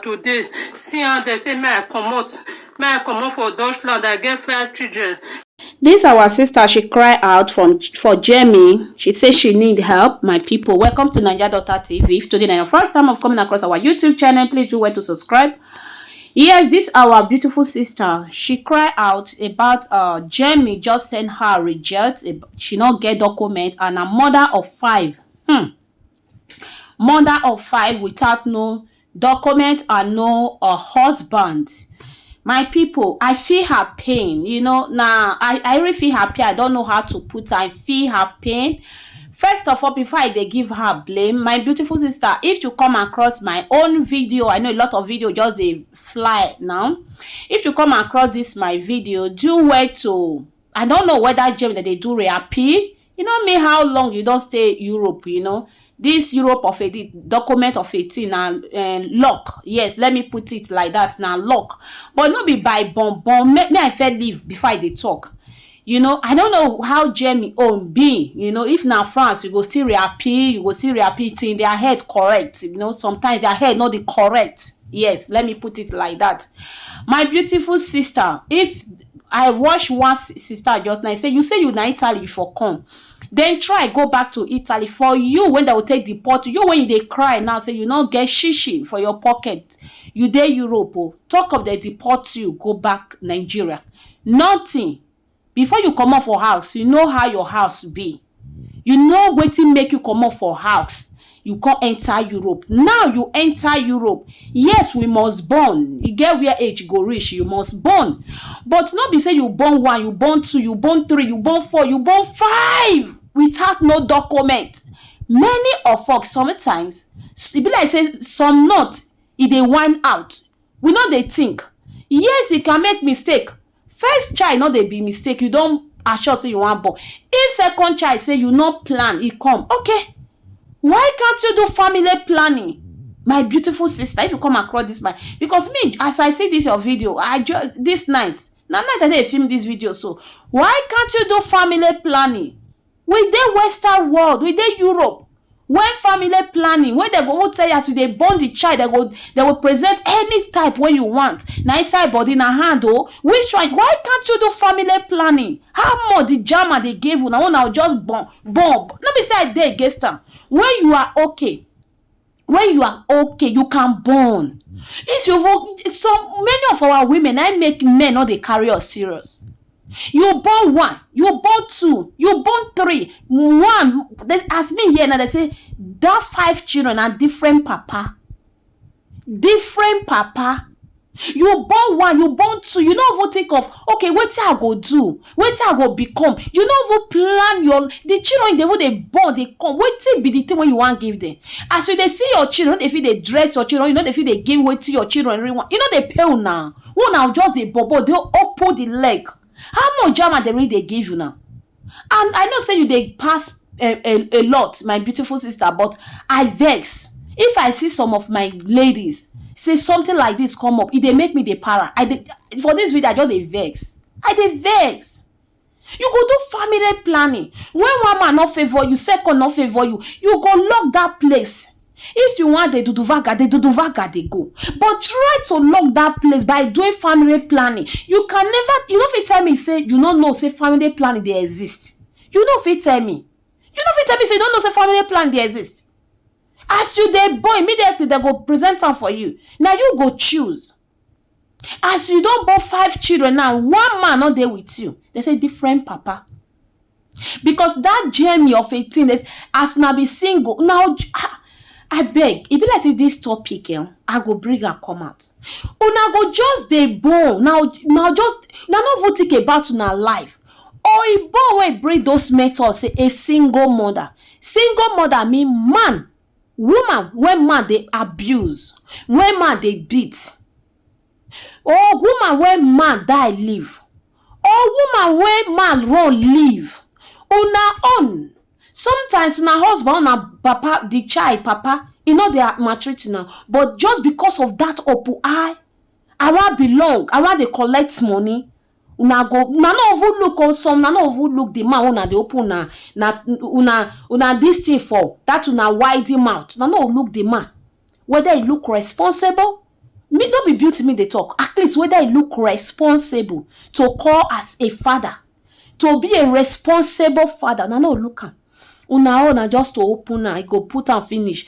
today see how dem say make i comot make i comot for dutchland i get five children This our sister, she cry out from for Jamie. She say she need help. My people, welcome to Niger Daughter TV. If today na your first time of coming across our YouTube channel, please do well to subscribe. Yes, this our beautiful sister. She cry out about uh Jamie just send her reject. ab- She not get document and a mother of five. Hmm. mother of five without no document and no um husband my people I feel her pain you know na I I really feel her pain I don't know how to put her I feel her pain first of all before I dey give her blame my beautiful sister if you come across my own video I know a lot of video just dey fly now if you come across this my video do well to I don't know whether Jane dem dey do reappeal E no mean how long you don stay Europe, you know, this Europe of a di document of a thing na um, luck. Yes, let me put it like that, na luck. But no be by bon bon. Make me I fair leave before I dey talk. You know, I don't know how Jamie own be. You know, if na France, you go still reappear, you go still reappear till their head correct. You know, sometimes their head not the correct. Yes, let me put it like that. My beautiful sister, if I watch one sister just now, e say you say you na Italy you for come, then try go back to Italy for you when dem go take deport you, you wey you dey cry now say you no get shishi for your pocket, you dey Europe o, talk of dem deport you go back Nigeria, nothing, before you comot for house you know how your house be, You know wetin make you comot for house, you come enter Europe. Now you enter Europe, yes we must born, e get where age go reach you must born but no be sey you born one, you born two, you born three, you born four, you born five without no document. Many of us sometimes, e be like sey some not e dey whine out, we no dey think. Yes e can make mistake First child no dey be mistake you don assure say you wan born if second child say you no plan e come ok why can't you do family planning my beautiful sister if you come across this my because me as I see this your video I just this night na night I dey film this video so why can't you do family planning we dey western world, we dey Europe wen family planning wey dem go even tell you as you dey born di child dem go dem go present any type wey you want na inside body na hand oh which one why can't you do family planning how much di jama dey give una wen una go just born born no be say I dey against am wen you are okay when you are okay you can born if you vo- some many of our women i make men no dey carry us serious you born one you born two you born three one they, as me here now they say that five children na different papa different papa You born one, you born two, you no even think of okay wetin I go do, wetin I go become, you no even plan your the children you dey even dey born dey come wetin be the thing wey you wan give them? As you dey see your children, you no dey fit dey dress your children, you no dey fit dey give wetin your children really want, you no dey pay una, wey una go just dey bobo dey open the leg. How much Jama dey really dey give una? And I know say you dey pass a, eh, a, eh, a lot, my beautiful sister, but I vex. If I see some of my ladies say something like this come up, it dey make me dey para. I dey, for this video, I just dey vex. I dey vex. You go do family planning. When one man not favor you, second not favor you, you go lock that place. If you wan dey duduvaga, dey duduvaga dey go but try to lock that place by doing family planning. You can never, you no fit tell me say you no know say family planning dey exist. You no fit tell me. You no fit tell me say you no know say family planning dey exist. As you dey born, immediately dem go present am for you. Na you go choose. as you don born five children now one man no dey with you they say different papa because that journey of a thing is as una be single now ah, i beg e be like say this topic eh, i go bring am come out una go just dey born now now just now no even think about una life oyibo wey bring those methods say a single mother single mother mean man Woman wey man dey abuse, wey man dey beat or woman wey man die leave or woman wey man run leave, una own sometimes na husband or na papa, di child papa e nor dey maltreat una but just becos of dat opu eye, I wan belong, I wan dey collect money, una go una no even look oh some una no even look the man wey una dey open una na una una this thing for that una wide mouth una no look the man whether he look responsible me no be beauty me dey talk at least whether he look responsible to call as a father to be a responsible father una no look am una own na just to open am he go put am finish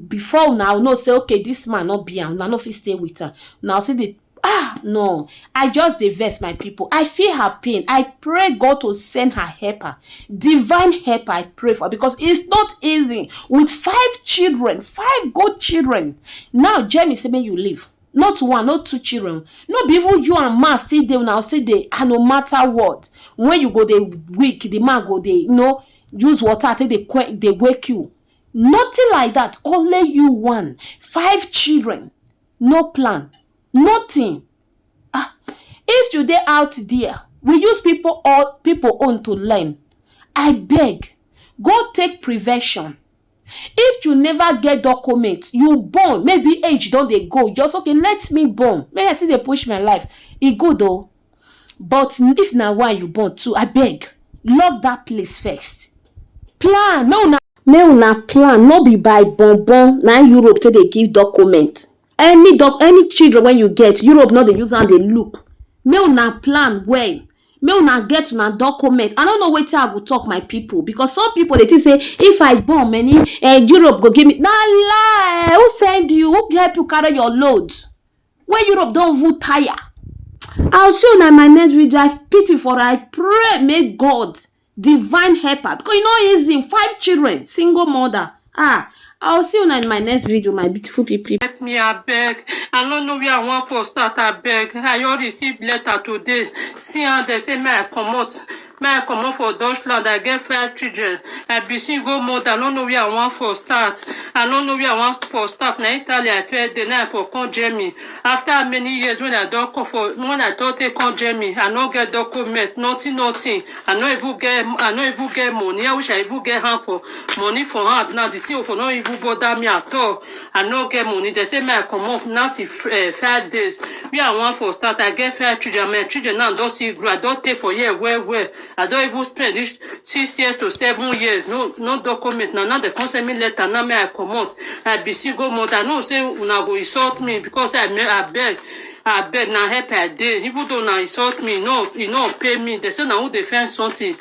before una know say okay this man no be am una no fit stay with am una still dey ah no i just dey vex my people i feel her pain i pray god to send her helper divine helper i pray for because it's not easy with five children five good children now jeremy say make you leave not one not two children no be even you and man still dey una still dey and no matter what when you go dey weak the man go dey you know use water take dey que- dey wake you nothing like that only you one five children no plan, nothing. Ah, if you dey out there, we use people or people own to learn. I beg, go take prevention. If you never get document, you born, maybe age don dey go, just okay, let me born. Make I still dey push my life. E good o. But if na one you born too, abeg lock that place first. Plan make una make una plan no be by bon bon na Europe take dey give document. Any doc any children when you get, Europe no dey use am dey look. Make una plan well. Make una get una document. I no know wetin I go talk my people because some people dey think say if I born many, eh, Europe go give me. Na lie! Who send you? Who help you carry your load? wey europe don even tire i'll see una in my next video i pity for her i pray make god divine help her because e no easy five children single mother ah i'll see una in my next video my beautiful people help me abeg i no know where i wan for start abeg i just receive letter today see am dem say make i comot Me I comot for Dutchland, I get five children. I be single mother, I no know where I wan for start. I no know where I wan for start. Na Italy I first dey, now I for come Germany. After many years when I don come for, when I don take come Germany, I no get document, nothing, nothing. I no even get, I no even get money. I wish I even get hand for money for hand. Now the thing for no even bother me at all. I no get money. They say me I come off now till uh, five days. We are one for start. I get five children. My children now don't see grow. I don't take for year well well. I don't even spend this six years to seven years. No no document. Now now they come send me letter. Now me I come out. I be single month. I know say una go insult me because I me I beg. I beg now help I dey. Even though now insult me, no, you no pay me. They say now who defend something.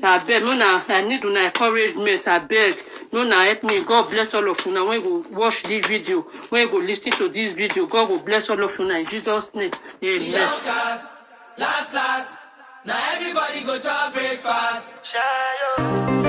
na abeg make una i need una encouragement abeg make una help me god bless all of una wey go watch this video wey go lis ten to this video god go bless all of una in jesus name amen. Young cars, last last. Now everybody go to breakfast. Shayo.